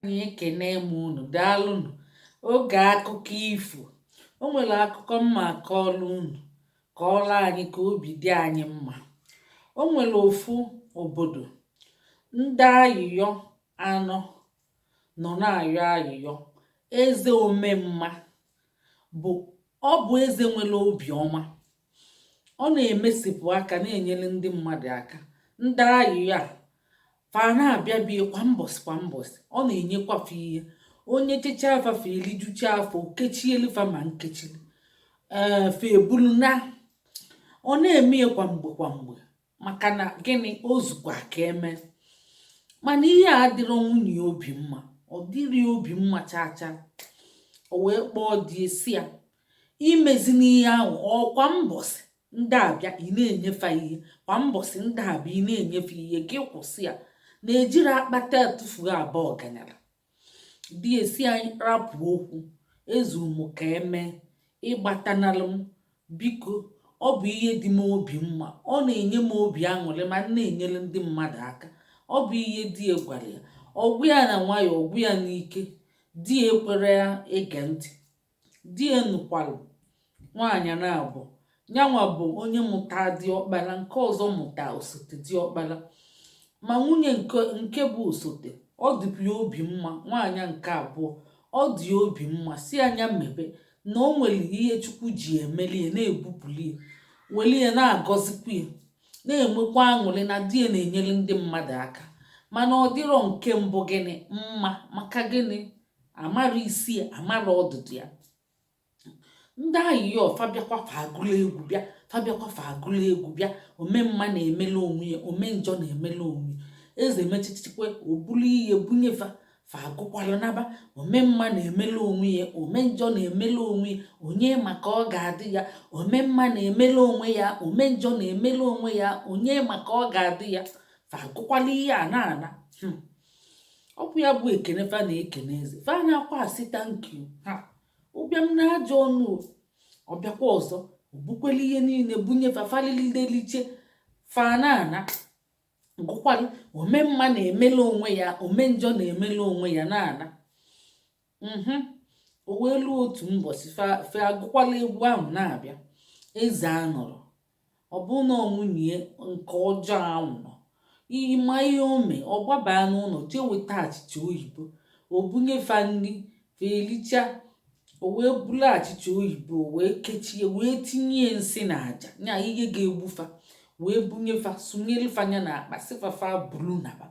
anyị ekene m unu daalụnụ oge akụkọ ifo o nwere akụkọ m ma-akọlụ unu kọọlụ anyị ka obi dị anyị mma o nwere ofu obodo ndị ayịyọ anọ nọ na-ayọ ayịyọ eze omemma bụ ọ bụ eze nwere obiọma ọ na-emesipụ aka na-enyere ndị mmadụ aka ndị ayịyọ a fa na-abịa be ya kwa mbọsị kwa mbọsị ọ na-enyekwa fa ihe o nyechechaa fa fa elijucha afọ kechielu fa ma nke echi ee fa ebulu naa ọ na-eme ya kwa mgbe kwa mgbe maka na gịnị o zukwa ka eme mana ihe a adịrọ nwunye ya obi mma ọ dịrọ ya obi mma chaa chaa o wee kpọọ di ya sị ya ị mezina ihe ahụ o kwa mbọsị ndị a bịa ị na-enye fa ihe kwa mbọsị ndị a bịa ị na-enye fa ihe gị kwụsị ya na ejirọ akpata etufuo aba ọganyala di ya sị anyị rapụ okwu ezu m ka eme ịgbatanalụ m biko ọ bụ ihe dị m obi mma ọ na-enye m obi aṅụrị ma m na-enyere ndị mmadụ aka ọ bụ ihe di ya gwara ya ọ gwa ya na nwayọọ ọ gwa ya n'ike di ya ekwerọ ya ege ntị di ya nụkwalụ nwaanyị naabọ nyanwa bụ onye mụta diọkpala nke ọzọ mụta osote diọkpala ma nwunye nke bụ osote ọ dịbụ ya obi mma nwaanyị nke abụọ ọ dị ya obi mma sị ya nya mebe na o nwere ihe chukwu ji emeli ya na-ebupụli ya weli ya na-agọzikwa ya na-enwekwa aṅụrị na di ya na-enyere ndị mmadụ aka mana ọ dịrọ nke mbụ gịnị mma maka gịnị amarọ isi ya amarọ ọdụdụ ya ndị ayịyọ fa bịakwa fa agụlụ egwu bịa fa bịakwa fa agụlụ egwu bịa omemma na-emela onwe ya ome njọ na-emela onwe ya eze mechichikwa o bulu ihe bunye fa fa agụkwalụ naba omemma na-emela onwe ya ome njọ na-emela onwe ya onye ma ka ọ ga-adị ya omemma na-emela onwe ya ome njọ na-emela onwe ya onye ma ka ọ ga-adị ya fa agụkwalụ ihe a na-ana hmm. ọ bụ ya bụ ekene fa na-ekene eze fa anaakwa asị thank you ha ụbịam na ajọ ọnụ ọ bịakwa ọzọ o bukwelu ihe niile bunye fa fa elilidelicha fa na-ana gụkwalụ ome mma na-emela onwe ya ome njọ na-emela onwe ya na-ana mhm. o wee luo otu mbọsị fa agụkwalụ egwu ahụ na-abịa eze anọrọ Ọ bụ na nwunye nke ọjọọ ahụ nọ, ị ma ihe o mee, ọ gbabaa n'ụlọ jee weta achịcha oyibo, o bunye fa nri, fa elicha, o wee bulu achịcha oyibo wee kechie wee tinye nsị na aja nya ihe ga-egbu fa wee bunye fa sunyelu fa nya na akpa sị fa fa bulu naba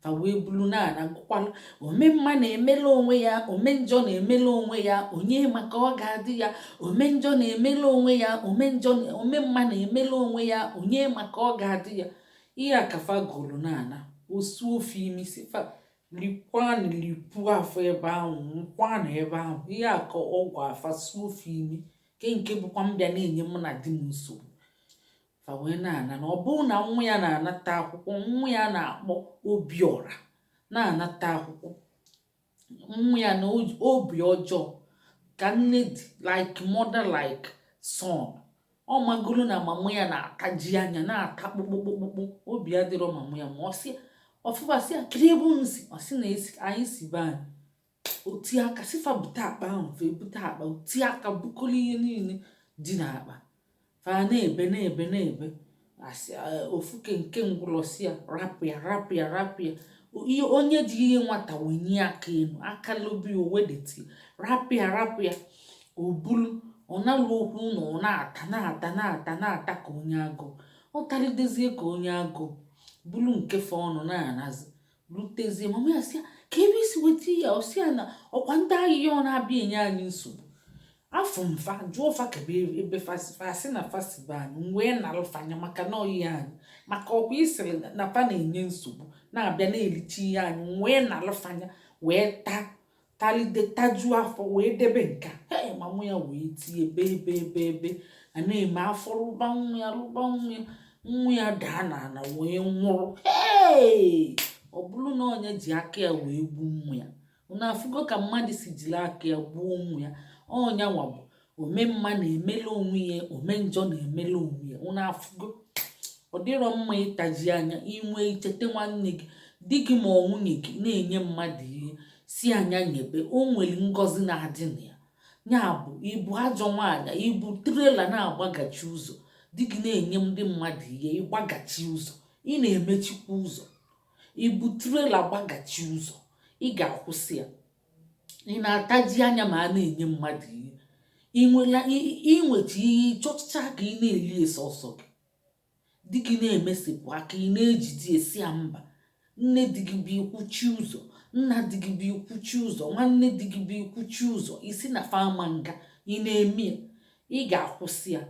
fa wee bulu naa na-agụkwalụ ome mma na-emela onwe ya ome njọ na-emela onwe ya onye ma ka ọ ga-adị ya ome njọ na-emela onwe ya ome njọ na- ome mma na-emela onwe ya onye ma ka ọ ga-adị ya ihe a ka fa gụrụ na-ana osu ofe imi sị fa likwanụ lipu afọ ebe ahụ nkwanụ ebe ahụ ihe a ka ọ gwa fa suo ofe imi nke nke bụkwa mbịa na-enye mụ na di m nsogbu fa wee na-ana na ọ bụrụ na nwa ya na-anata akwụkwọ nwa ya na-akpọ obiọra na-anata akwụkwọ nwa ya na obi ọjọọ ka nne dị like mother like son ọ magoro na mama ya na-ataji anya na-ata kpụkpụkpụkpụ obi adịrọ mama ya mma ọ sị ọ fụ fa sị ya kedụ ebe unu si ọ sị na anyị si be anyị o tie aka sị fa bute akpa ahụ fa ebute akpa o tie aka bukọlụ ihe niile dị n'akpa fa na-ebe na-ebe na-ebe a sị eh, ofu ke nke ngwụlọ sị ya rapụ ya rapụ ya rapụ ya O- ihe onye ji ihe nwata wenie aka enu aka lobe ya o wedete ya rapụ ya rapụ ya o bulu ọ naluo okwu ụnọ ọ na-ata na-ata na-ata na-ata ka onye agụụ ọ talidezie ka onye agụụ bulu nke fọọnụ na-anazi rutezie mama ya sị ya kee ebe i si weta ya ọ sị ya na ọkwa ndị ayịyọ na-abịa enye anyị nsogbu afụ m fa jụọ fa kee ebe ebe fa si fa sị na fa si be anyị m wee nalụ fa nya maka na ọ ihe anyị maka ọkwa ị sịrị na fa na-enye nsogbu na-abịa na-elicha ihe anyị m wee nalụ fa nya wee taa talide tajuo afọ wee debe nka hei mama ya wee tie ebe ebe ebe ebe a na-eme afọ rụba nwa ya rụba nwa ya nwa ya daa n'ana wee nwụrụ hei ọ bụrụ na ọ nya ji aka ya wee gbuo nwa ya unu afụgo ka mmadụ si jiri aka ya gbuo nwa ya ọ nya nwa bụ ome mma na-emela onwe ya ome njọ na-emela onwe ya unu afụgo ọ dịrọ mma ịtaji anya inwe icheta nwanne gị di gị ma ọ nwunye gị na-enye mmadụ ihe sị ya nya nyebe o nwere ngọzi na-adị na ya ya bụ ị bụ ajọ nwaanyị ị bụ trailer na-agbagachi ụzọ di gị na-enye ndị mmadụ ihe ị gbagachi ụzọ ị na-emechikwa ụzọ ị bụ trailer gbagachi ụzọ ị ga-akwụsị ya ị na-ataji anya ma a na-enye mmadụ ihe i nweta ihe ị chọcha ka ị na-eli sọsọ gị di gị na-emesapụ aka ị na-ejide asị ya mba nne di gị bịa ị kwụchie ụzọ nna di gị bịa ị kwụchie ụzọ nwanne di gị bịa ị kwụchie ụzọ ị sị na fa ama nga ị na-eme ya ị ga-akwụsị ya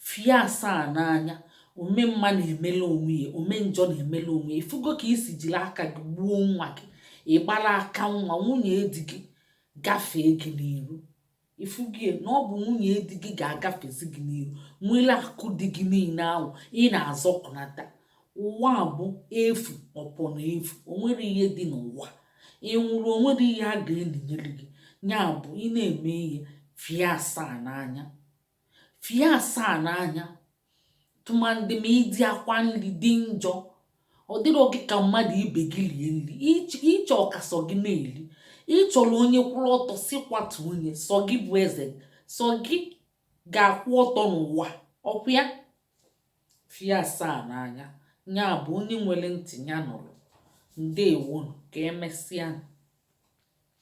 fie asaa n'anya ome mma na-emela onwe ya ome njọ na-emela onwe ya ị fụgo ka i si jiri aka gị gbuo nwa gị ị gbara aka nwa nwunye di gị gafee gị n'iru ị fụgo ya na ọ bụ nwunye di gị ga-agafezi gị n'iru nwere akụ di gị niile ahụ ị na-azọpụnata ụwa bụ efu ọpọ na efu o nwere ihe dị n'ụwa ị nwụrụ o nwere ihe a ga-elinyere gị ya bụ ị na-eme ihe fie asaa n'anya fie asaa n'anya tụmadị ma ịdị akwa nri dị njọ ọ dịrọ gị ka mmadụ ibe gị rie nri ị chọọ ka sọ gị na-eri ị chọrọ onye kwụrụ ọtọ si kwatu onye sọ gị bụ eze sọ gị ga-akwụ ọtọ n'ụwa ọ kwa ya fie asaa n'anya ya bụ onye nwere ntị ya nụrụ ndewonu ka emesịa